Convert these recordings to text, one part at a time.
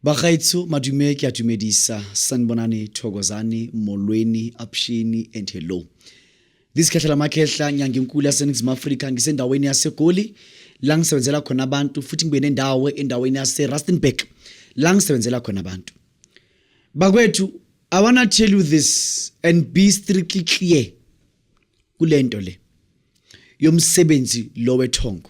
Bagaetsho madume ke a dumedisa sanibonani thokozani molweni apshini and hello This Khehla Makhehla nyangenkulu yaseNingizimu Afrika ngisendaweni yaseGoli la ngisebenzela khona abantu futhi ngibe nendawo endaweni yaseRustenburg la ngisebenzela khona abantu bakwethu I wanna tell you this and be strictly clear kulento le yomsebenzi lo wethongo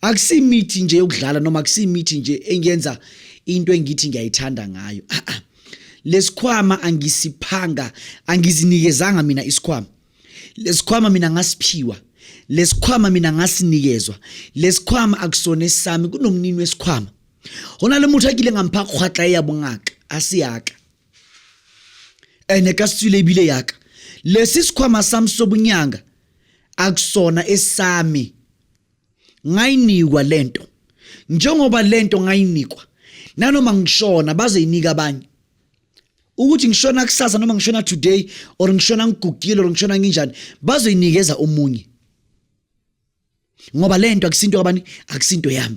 akusimithi nje yokudlala noma akusimithi nje engenza into engithi ngiyayithanda ngayo ah, ah. lesikhwama angisiphanga angizinikezanga mina isikhwama lesikhwama mina ngasiphiwa lesikhwama mina ngasinikezwa lesikhwama akusona esami kunomnini wesikhwama hona le motho a kile ngampha kgwatla e ya bongaka a se yaka ene ka setswile ebile yaka lesi sikhwama sami sobunyanga akusona esami ngayinikwa lento njengoba lento ngayinikwa nanoma ngishona baze yinika abanye ukuthi ngishona kusasa noma ngishona today or ngishona ngigugile or ngishona nginjani bazoyinikeza omunye ngoba lento akusinto kabani akusinto yami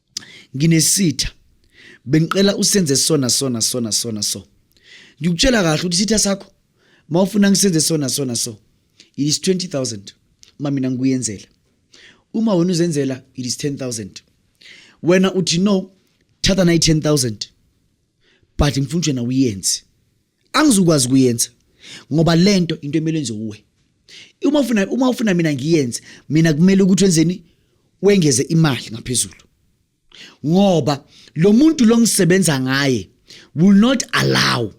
nginesitha bengicela usenze sona sona sona sona so ngikutshela kahle ukuthi isitha sakho mawufuna ngisenze sona sona so it is 20000 uma mina ngikuyenzela uma wena uzenzela it is 10000 wena uthi no thatha nayi 10000 but mfunjena uyenzi angizukwazi kuyenza ngoba lento into emele enze uwe uma ufuna uma ufuna mina ngiyenze mina kumele ukuthi wenzeni wengeze imali ngaphezulu ngoba lo muntu lo ngisebenza ngaye will not allow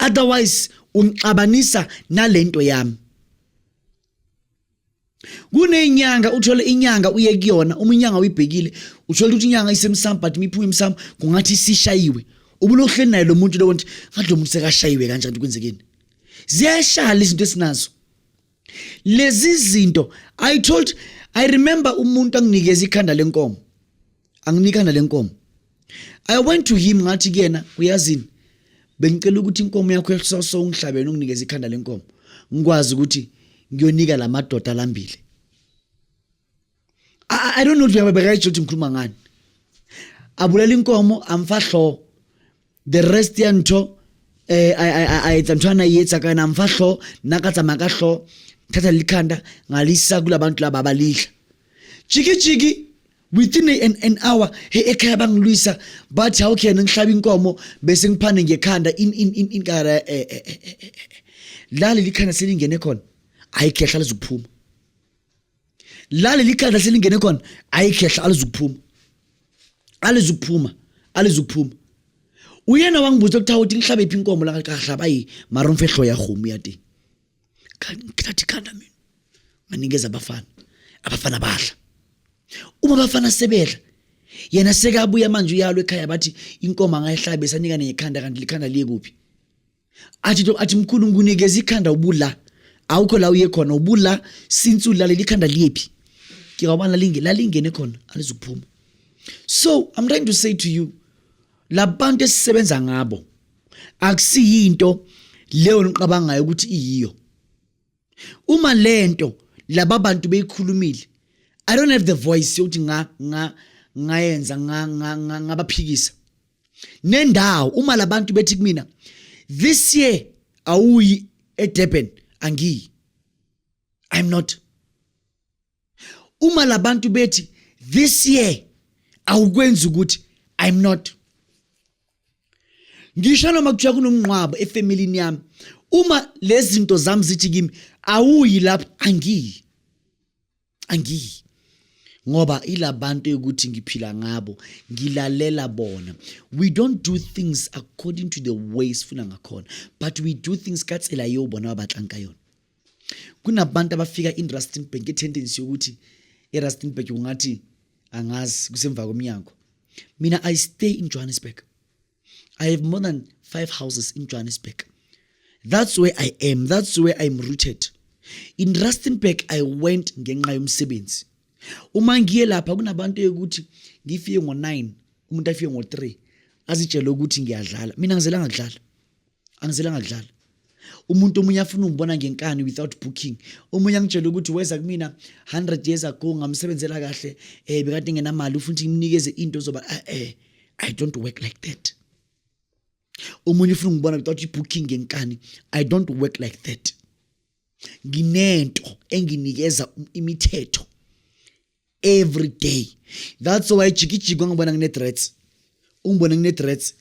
otherwise ungixabanisa nalento yami kunenyanga uthole inyanga uye kuyona uma inyanga uyibhekile uthole ukuthi inyanga isemsamo but miphuma emsamo kungathi isishayiwe ubulohleni naye lo muntu lowo nti ngathi lo muntu sekashayiwe kanjani ukuthi kwenzekeni ziyashala izinto esinazo lezi zinto i told i remember umuntu anginikeza ikhanda lenkomo anginikana lenkomo i went to him ngathi kuyena uyazini bengicela ukuthi inkomo yakho ehloso ungihlabene unginikeze ikhanda lenkomo ngikwazi ukuthi ngiyonika lamadoda lambile i don't know ukuthi uyababeka ukuthi ngikhuluma ngani abulala inkomo amfahlo the rest ya ntho eh a etsa ntho ana yetsa ka na mfa hlo nna ka tsamaya ka hlo thatha likhanda ngalisa kulabantu laba abalidla jiki jiki within an, an hour he ekhaya bangilwisa bathi how can ngihlaba inkomo bese ngiphane ngekhanda in in in in kara eh, eh, eh, eh, eh. la lelikhanda selingene khona ayikhehla lizophuma la leli khanda selingene khona ayikhehla alizukuphuma alizukuphuma alizukuphuma uyena wangibuza ukuthi awuthi ngihlabe iphi inkomo la kahlaba ayi mara umfehlo yahumu yati ngithatha ikhanda mina nganikeza abafana abafana badla uma abafana sebedla yena sekabuya manje uyalo ekhaya bathi inkomo angayihlabe sanika nenye ikhanda kanti likhanda liye kuphi athi to athi mkhulu ngikunikeza ikhanda ubula awukho la uye khona ubula since ulaleli ikhanda liyephi ngiyawubana linge lalingene khona alizukuphuma so i'm trying to say to you labantu esisebenza ngabo akusiyinto leyo niqabangayo ukuthi iyiyo uma lento laba bantu beyikhulumile i don't have the voice yokuthi nga nga ngayenza nga nga nga ngabaphikisa nendawo uma labantu bethi kumina this year awuyi eDurban angiyi i'm not uma labantu bethi this year awukwenzi ukuthi i'm not ngisho noma kuthiwa kunomnqwabo efamilini yami uma lezi zinto zami zithi kimi awuyi lapho angiyi angiyi ngoba ilabantu ukuthi ngiphila ngabo ngilalela bona we don't do things according to the ways funa ngakhona but we do things ka tsela eo bona ba batlang ka yona kunabantu abafika in rustenburg ngetendency yokuthi erustenburg kungathi angazi kusemva komnyango mina i stay in johannesburg i have more than five houses in johannesburg that's where i am that's where i'm rooted in rustenburg i went ngenxa yomsebenzi uma ngiye lapha kunabantu yokuthi ngifike ngo-9 umuntu afike ngo-3 azitshele ukuthi ngiyadlala mina ngizelanga kudlala angizela ngadlala umuntu omunye afuna ungibona ngenkani without booking omunye angitshela ukuthi weza kumina 100 years ago ngamsebenzela kahle eh bekade ngenamali ufuna ukuthi ngimnikeze into zoba eh, eh i don't work like that omunye ufuna ungibona without booking ngenkani i don't work like that nginento enginikeza imithetho every day that's why jikijiki wangibona ngine-threats ungibona ngine-threats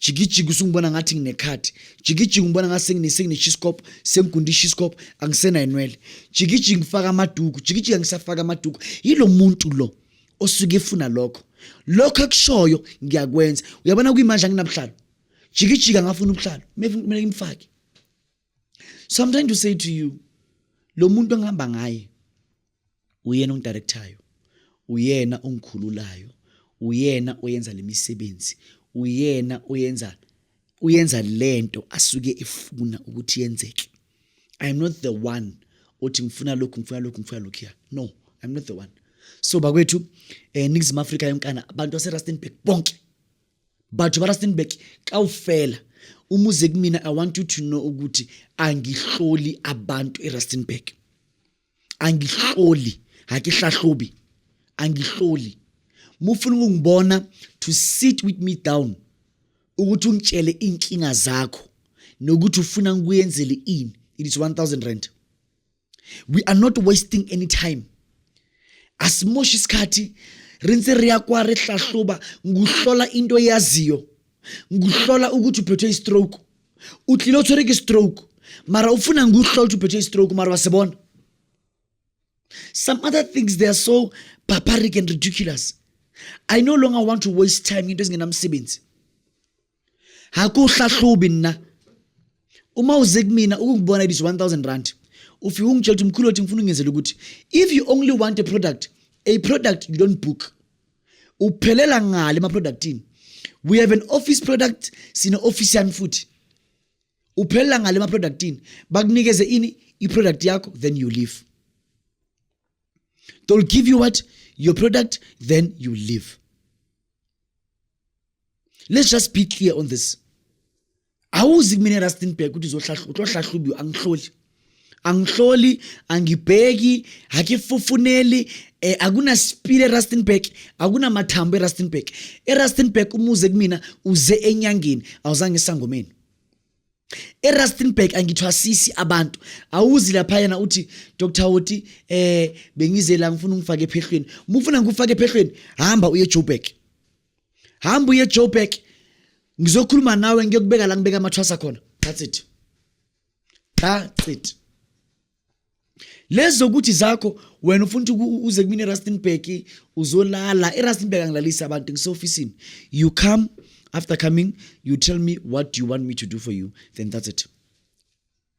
jikijiki usungibona ngathi nginekhadi jikijiki ngibona ngathi sengineshiscop sengigunda ishiscop angisenayinwele jikijiki ngifaka amaduku jikijiki angisafaka amaduku yilo muntu lo osuke efuna lokho lokho akushoyo ngiyakwenza uyabona kuyimanje anginabuhlalo jikijiki angafuna ubuhlalo kumele ngimfake so i'm trying to say to you lo muntu engihamba ngaye uyena ongidirectayo uyena ongikhululayo uyena oyenza lemisebenzi uyena oyenza uyenza lento asuke efuna ukuthi yenzeke i am not the one othi ngifuna lokhu ngifuna lokhu ngifuna lokhu ya no i am not the one so bakwethu eh Ningizimu Afrika yonkana abantu baseRustenburg bonke batho ba rustenburg kawufela uma uze kumina i want you to know ukuthi angihloli abantu erustenburg angihloli hakihlahlobi angihloli mufuna ukungibona to sit with me down ukuthi ungitshele inkinga zakho nokuthi ufuna ngikuyenzele ini it is 1000 rand we are not wasting any time asimoshi isikhathi ri ntse ri ya kwa ri hlahluba nguhlola into eyaziyo nguhlola ukuthi uphethwe istroke u tlile u tshwere ke stroke mara u funa nguhlola ukuthi uphethwe istroke mara wa se bona some other things they are so barbaric and ridiculous i no longer want to waste time into ezingenamsebenzi akuhlahlubi nna uma uze kumina ukungibona it is 1000 rand ufike ungitshela ukuthi mkhulu othi ngifuna ungenzela ukuthi if you only want a product a product you don't book uphelela ngale emaproductini we have an office product sine office yami futhi uphelela ngale emaproductini bakunikeze ini iproduct yakho then you leave they'll give you what your product then you leave let's just be clear on this awuzi kumina rustenburg ukuthi uzohlahlubiwa angihloli angihloli angibheki akifufuneli um eh, akunasipili erustenburg akunamathambo erustenburg erustenburg umuze kumina uze enyangeni awuzange esangomeni eRustenburg angithwasisi abantu awuzi lapha yena uthi Dr Hoti eh bengize la ngifuna ungifake ephehlweni mufuna ngikufake ephehlweni hamba uye Joburg hamba uye ejoburg ngizokhuluma nawe ngiyokubeka la ngibeka amathwasa khona that's it that's it lezi zokuthi zakho wena ufuna ukuthi uze kumina erustenburg uzolala erustenburg angilalisi abantu ngiseofisini you come after coming you tell me what you want me to do for you then that's it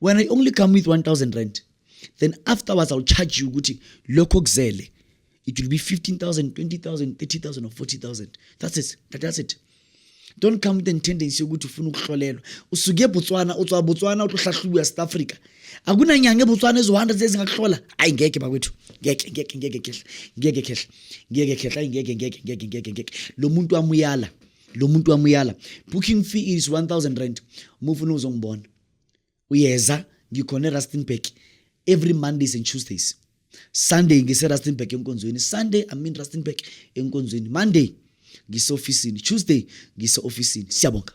when i only come with 1000 rand then afterwards i'll charge you ukuthi lokho kuzele it will be 15000 20000 30000 or 40000 that's it that, that's it don't come with the tendency yokuthi ufuna ukuhlolelwa usuke eBotswana utswa Botswana utohlahlubu yaSouth Africa akunanyanga eBotswana ezohanda zezingakuhlola ayi ngeke bakwethu ngeke ngeke ngeke khehla ngeke khehla ngeke khehla ngeke ngeke ngeke ngeke ngeke lo muntu amuyala lo muntu wamuyala booking fee is 1000 rand uma ufuna uzongibona uyeza ngikhona erustenburg every mondays and tuesdays sunday ngiserustenburg enkonzweni sunday i'm in rustenburg enkonzweni monday ngiseofisini tuesday ngiseofisini siyabonga